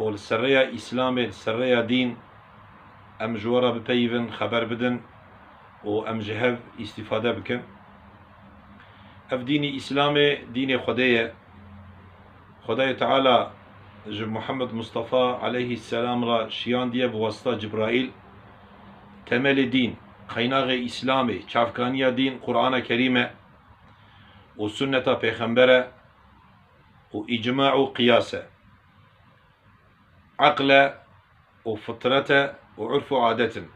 û li ser rêya Îslamê, li ser rêya dîn em ji we re bipeyivin, xeber bidin û em ji hev îstîfade bikin. Ev dînî Îslamê dînê Xwedê ye. Xwedayê Teala ji Muhammed Mustafa aleyhî selam re şiyandiye bi wasita Cibraîl. Temelê dîn, qeynaxê Îslamê, çavkaniya dîn Qurana Kerîm e û Sunneta Pêxember e. û îcma û qiyas e. Eql e û fitret e û urf û adet in.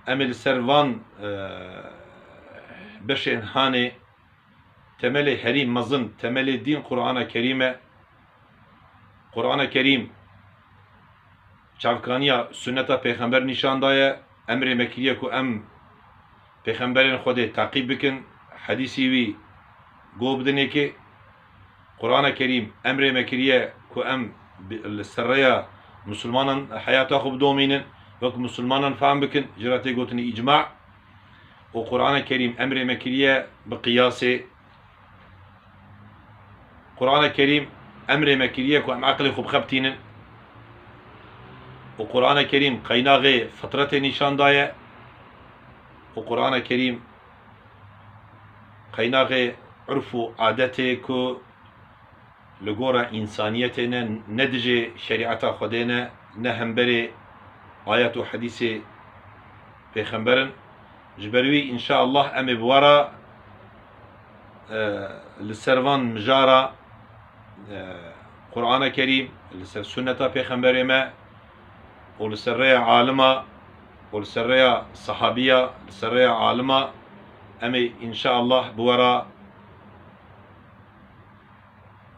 Em ê li ser van beşên hanê temelê herî mezin, temelê dîn Qur'ana Kerîm e. Qur'ana Kerîm çavkaniya sunneta pêxember nîşan daye, emrê me kiriye ku em, Pêxemberên Xwedê teqîb bikin, hedîsî wî go bidin yekê. Qurana Kerîm emrê me kiriye ku em li ser rêya misilmanan heyata xwe bidomînin, wek misilmanan fehm bikin, jî re tê gotin îcma û Qurana Kerîm emrê me kiriye bi qiyasê, Qur'ane Kerîm emrê me kiriye ku em eqilê xwe bixebitînin û Qur'ane Kerîm qeynaxê fitretê nîşan daye û Qur'ane Kerîm qeynaxê urf û adetê ku li gora însaniyetê ne, ne dijê şerîeta Xwedê ne, ne hemberê ayet û hedîsê pêxemberin. Ji ber wî înşaallah em ê bi we re li ser van mijara Qur'ana Kerîm, li ser sunneta Pêxemberê me û li ser rêya alima û li ser rêya sehabîya, li ser rêya alima em ê înşaallah bi we re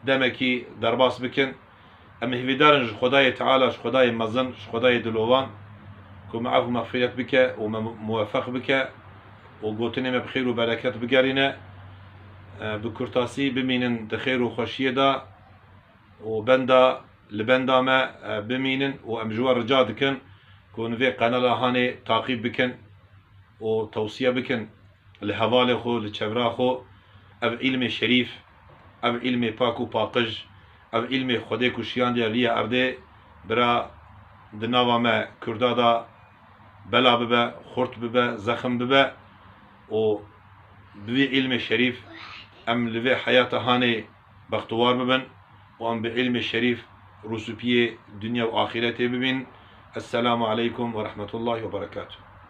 demekî derbas bikin. Em hîvîdar in ji Xwedayê Teala, ji Xwedayê mezin, ji Xwedayê dilovan ku me efu mexfîret bike û me muwefeq bike û gotinê me bi xêr û bereket bigerîne. Bi kurtasî bimînin di xêr û xweşiyê de û benda li benda me bimînin û em ji we rica dikin ku hûn vê qenala hanê taqîb bikin û tewsiye bikin li hevalê xwe, li çevra xwe ev îlmê şerîf. Ev îlmê pak û paqij, ev îlmê Xwedê ku şiyandiya li ya erdê bira di nava me Kurda da bela bibe, xurt bibe, zexm bibe û bi vî îlmê şerîf em li vê heyata hanê bextewar bibin û em bi îlmê şerîf rûsûpiyê dunya û axîretê bibînin. Eselamu aleykum werehmetullahî weberekatû.